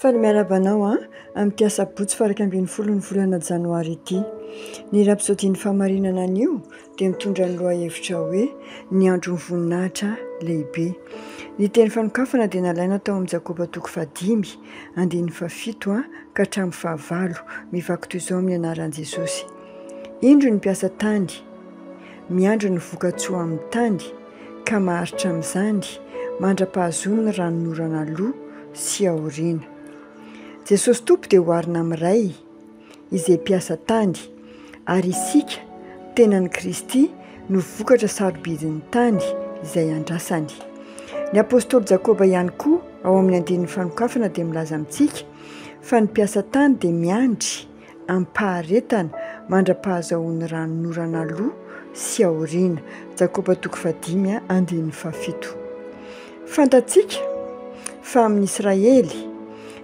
Faly miarahaba anao an! Amin'ity asabotsy faha iraika ambin'ny folo ny volana janoary ity. Ny rapsodin'ny fahamarinana anio dia mitondra ny lohahevitra hoe ny andron'ny voninahitra lehibe. Ny teny fanokafana dia nalaina tao amin'ny Jakoba toko fahadimy andininy fahafito ka hatramin'ny fahavalo, mivaky toy izao amin'ny anaran'i Jesosy. Indro ny mpiasa tany, miandry ny vokatsoa amin'ny tany. ka maharitra amin'izany mandra-pahazoany ny ranonorana aloha sy aoriana. Jesosy Tompo dia oharina amin'ny Ray, izay mpiasa tany, ary isika, tenan'i Kristy, no vokatra sarobidin'ny tany izay andrasany. Ny apostoly Jakoba ihany koa ao amin'ny andininy fanokafana dia milaza amintsika fa ny mpiasa tany dia miandry amim-paharetana mandra-pahazahoan'ny ranonorana aloha sy aoriana. Jakoba toko fahadimy andininy fahafito. Fantatsika fa amin'ny Israely,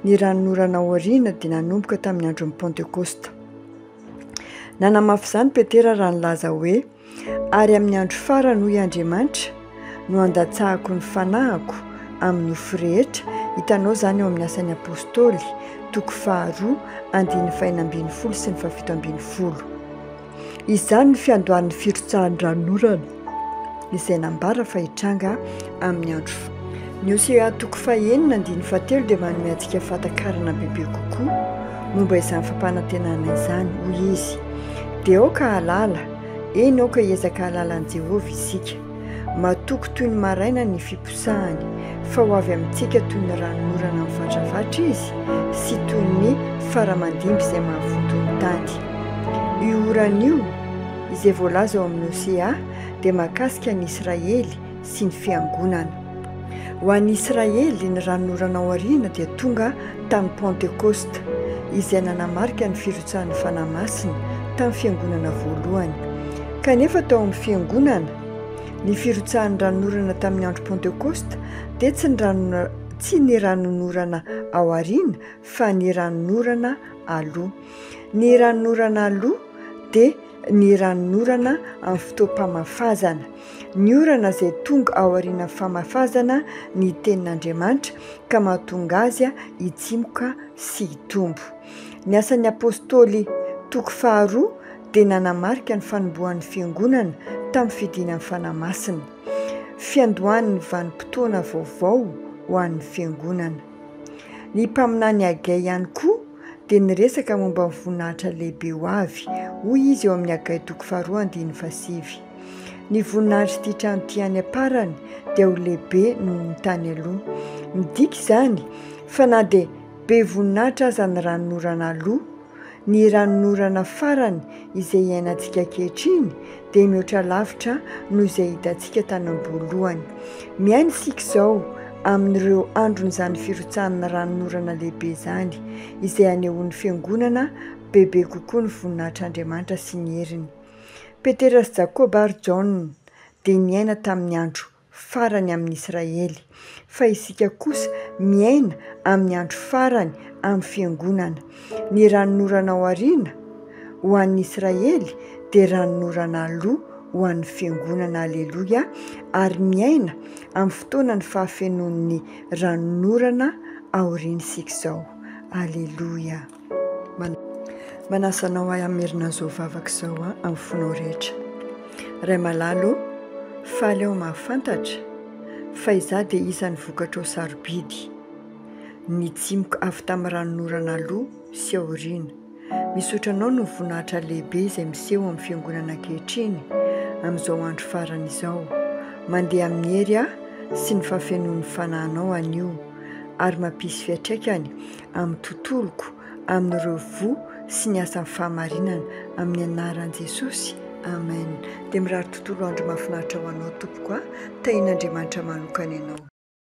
ny ranonorana aoriana dia nanomboka tamin'ny andron'ny Pantekosta. Nanamafy izany Petera raha nilaza hoe. Ary amin'ny andro farany, hoy Andriamanitra, no handatsahako ny fanahiko amin'ny nofo rehetra, hitanao izany ao amin'ny Asan'ny Apostoly, toko faharoa, andininy fahenina ambin'ny folo sy ny fahafito ambin'ny folo. Izany ny fiandohan'ny firotsahan-dranonorana izay nambara fa hitranga amin'ny andro farany. Ny Hosea toko fahenina andininy fahatelo dia manome antsika fahatakarana bebe kokoa momba izany fampanantenana izany. Hoy izy, Dia aoka hahalala, eny, aoka hiezaka hahalala an'i Jehovah isika. Matoky toy ny maraina ny fiposahany, fa ho avy amintsika toy ny ranon'orana mivatravatra izy sy toy ny fara mandimby izay mahavoto ny tany. Io orana io, izay voalaza ao amin'ny Hosea, dia mahakasika an'i Israely, sy ny Fiangonana. Ho an'i Israely, ny Ranonorana Aoriana dia tonga tamin'ny Pentekosta, izay nanamarika ny firotsahan'ny Fanahy Masina tamin'ny Fiangonana voalohany. Kanefa tao amin'ny Fiangonana, ny firotsahan'ny Ranonorana tamin'ny andro Pentekosta dia tsy ny Ranonorana tsy ny ranonorana ao aoriana fa ny ranonorana aloha. Ny ranonorana aloha dia ny ranon'orana amin'ny fotoam-pamafazana. Ny orana izay tonga aorianan'ny famafazana ny Tenin'Andriamanitra ka mahatonga azy hitsimoka sy hitombo. Ny Asan'ny Apôstôly, toko faharoa, dia nanamarika ny fanombohan'ny Fiangonana tamin'ny fidinan'ny Fanahy Masina. Fiandohan'ny vanim-potoana vaovao ho an'ny Fiangonana. Ny Mpaminany Hagey ihany koa, dia niresaka momba ny voninahitra lehibe ho avy, hoy izy eo amin'ny Hagay toko faharoa andininy fahasivy. Ny voninahitr'ity trano ity any am-parany dia ho lehibe noho ny tany aloha. Midika izany fa na dia be voninahitra aza ny ranonorana aloha, ny ranonorana farany Izay iainantsika ankehitriny dia mihoatra lavitra noho izay hitantsika tany am-boalohany. Miaina isika izao amin'ireo andron'izany firotsahan'ny ranon'orana lehibe izany, izay hanehoan'ny Fiangonana bebe kokoa ny voninahitr'Andriamanitra sy ny heriny. Petera sy Jakoba ary Jaona dia niaina tamin'ny andro farany amin' Israely, fa isika kosa miaina amin'ny andro farany amin'ny Fiangonana. Ny ranonorana ao aoriana ho an'ny Israely dia ranonorana aloha ho an'ny Fiangonana. Aleloia! Ary miaina amin'ny fotoanan'ny fahafenoan'ny ranonorana aoriana isika izao. Aleloia! Manasa anao ahy hamerina an'izao vavaka izao amin'ny fonao rehetra. Ray malala ô, faly aho mahafantatra fa izaho dia isan'ny vokatrao sarobidy, nitsimoka avy tamin'ny ranonorana aloha sy aoriana. Misaotra Anao noho ny voninahitra lehibe izay miseho amin'ny Fiangonana ankehitriny amin'izao andro farany izao. Mandeha amin'ny hery aho sy ny fahafenoan'ny Fanahinao anio ary mampisy fiatraikany amin'ny tontoloko, amin'ireo voa sy ny asan'ny fahamarinana, amin'ny anaran'i Jesosy, amen. Dia mirary tontolo andro mahafinaritra ho anao tompoko a, tahian'Andriamanitra manokana ianao.